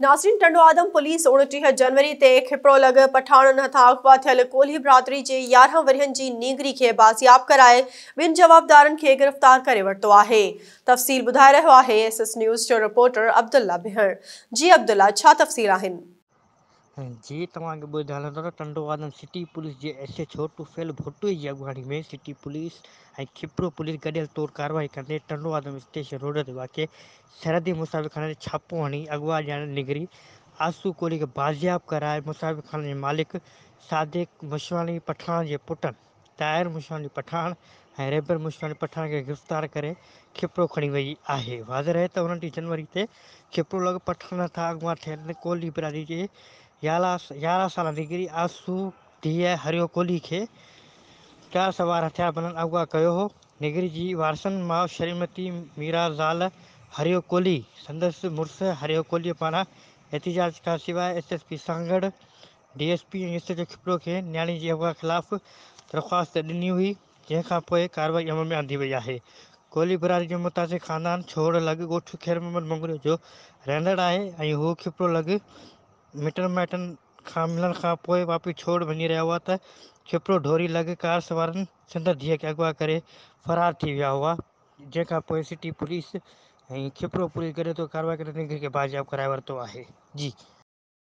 ناظرين ٽنڊوآدم پوليس اوڻٽيهه جنوري تي کپڙو لڳ پٺاڻن هٿان اغوا ٿيل ڪولهي برادري جي يارهن ورهين جي نينگري کي بازياب ڪرائي ٻن جوابدارن کي گرفتار ڪري ورتو آهي تفصيل ٻڌائي رهيو آهي ايس ايس نيوز جو رپورٽر عبدالله بهڙ جي عبدالله ڇا تفصيل آهن. جي توهان کي ٻڌائڻ هلندو ته ٽنڊوآدم سٽي پوليس جي S H O Tufail Bhuttoi جي اڳواڻي ۾ سٽي پوليس ۽ کپڙو پوليس گڏيل طور ڪارروائي ڪندي ٽنڊوآدم اسٽيشن روڊ تي واقع سرحدي مصاحبه خاني تي ڇاپو هڻي اغوا ڏيڻ نگري آسو ڪولهي کي بازياب ڪرائي مصاحبه خاني جي مالڪ صادق مشواڻي پٺاڻ جي پٽن طاهر مشواڻي پٺاڻ ۽ ريبر مشواڻي پٺاڻ کي گرفتار ڪري کپرو کڻي ويئي آهي واضح رهي ته انهن ٽي جنوري تي کپرو لڳ پٺاڻ هٿان اغوا ٿيل ڪولهي برادري جي يارهن سالا نگري آسو ڌيء هريو ڪولهي کي چار سوار هٿياربندن اغوا ڪيو هو نيگري جي وارثن ماء شريمتي ميرا زال هريو ڪولهي سندس مڙس هريو ڪولهي پاران احتجاج کان سواء S S P Sanghar, D S P ۽ S H O Khipro کي نياڻي جي اغوا خلاف درخواست ڏني هئي جنهن کان پوء ڪارروائي عمل ۾ آندي وئي آهي. ڪولهي برادري جو متاثر خاندان ڇوڙ لڳ ڳوٺ خيرمحمد مڱريو جو رهندڙ آهي ۽ هو کپلو لڳ مٽن مائٽن کان ملڻ کان پوء واپي ڇوڙ وڃي رهيا هئا ته ڇپرو ڍوري لڳ ڪار سوارن سندر ڌيء کي اغوا ڪري فرار ٿي ويا هئا، جنهن کان پوء سٽي پوليس ۽ ڇپرو پوليس گڏ اتو ڪارروائي ڪري ننگري کي بازياب ڪرائي ورتو آهي. جي.